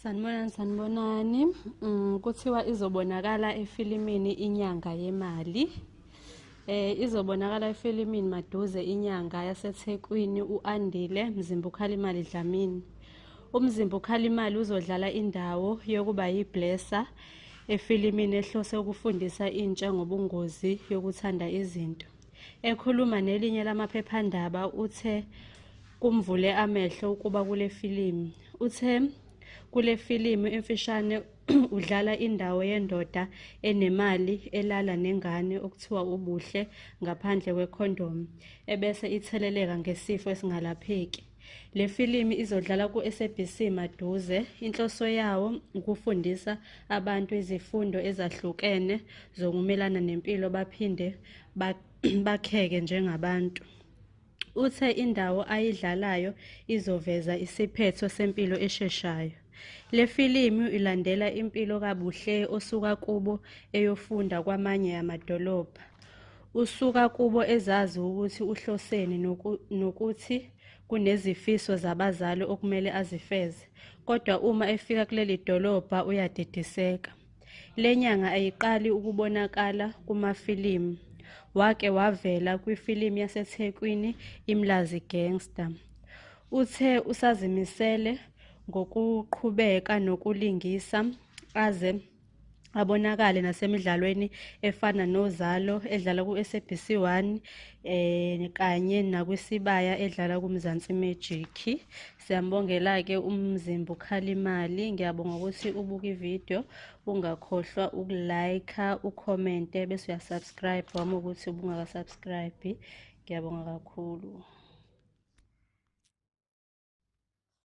sanibonani sanibonani um kuthiwa izobonakala efilimini inyanga yemali eh izobonakala efilimini maduze inyanga yaseThekwini uAndile Mzimba uKhalimali Dlamini umzimba ukhalimali uzodlala indawo yokuba yiblessa efilimini ehlose ukufundisa intsha ngobungozi yokuthanda izinto Ekhuluma nelinye lamaphephandaba uthe kumvule amehlo ukuba kule filimu. Uthe kule filimu emfishane udlala indawo yendoda enemali elala nengane okuthiwa ubuhle ngaphandle kwekhondomu ebese itheleleka ngesifo esingalapheki. Le filimi izodlala ku-SABC maduze. Inhloso yawo ukufundisa abantu izifundo ezahlukene zokumelana nempilo baphinde bakheke njengabantu. Uthe indawo ayidlalayo izoveza isiphetho sempilo esheshayo. Le filimi ilandela impilo kaBuhle osuka kubo eyofunda kwamanye amadolobha. Usuka kubo ezazi ukuthi uhloseni noku, nokuthi kunezifiso zabazali okumele azifeze, kodwa uma efika kuleli dolobha uyadidiseka. Le nyanga ayiqali ukubonakala kumafilimu. Wake wavela kwifilimu yaseThekwini iMlazi Gangster. Uthe usazimisele ngokuqhubeka nokulingisa aze abonakale nasemidlalweni efana nozalo edlala ku-sabc 1 um eh, kanye nakwisibaya edlala kumzansi magic siyambongela-ke umzimba ukhalimali ngiyabonga ukuthi ubuke ividiyo ungakhohlwa ukulayikha ukhomente bese uyasubscribe wami ukuthi ubungakasubscribe ngiyabonga kakhulu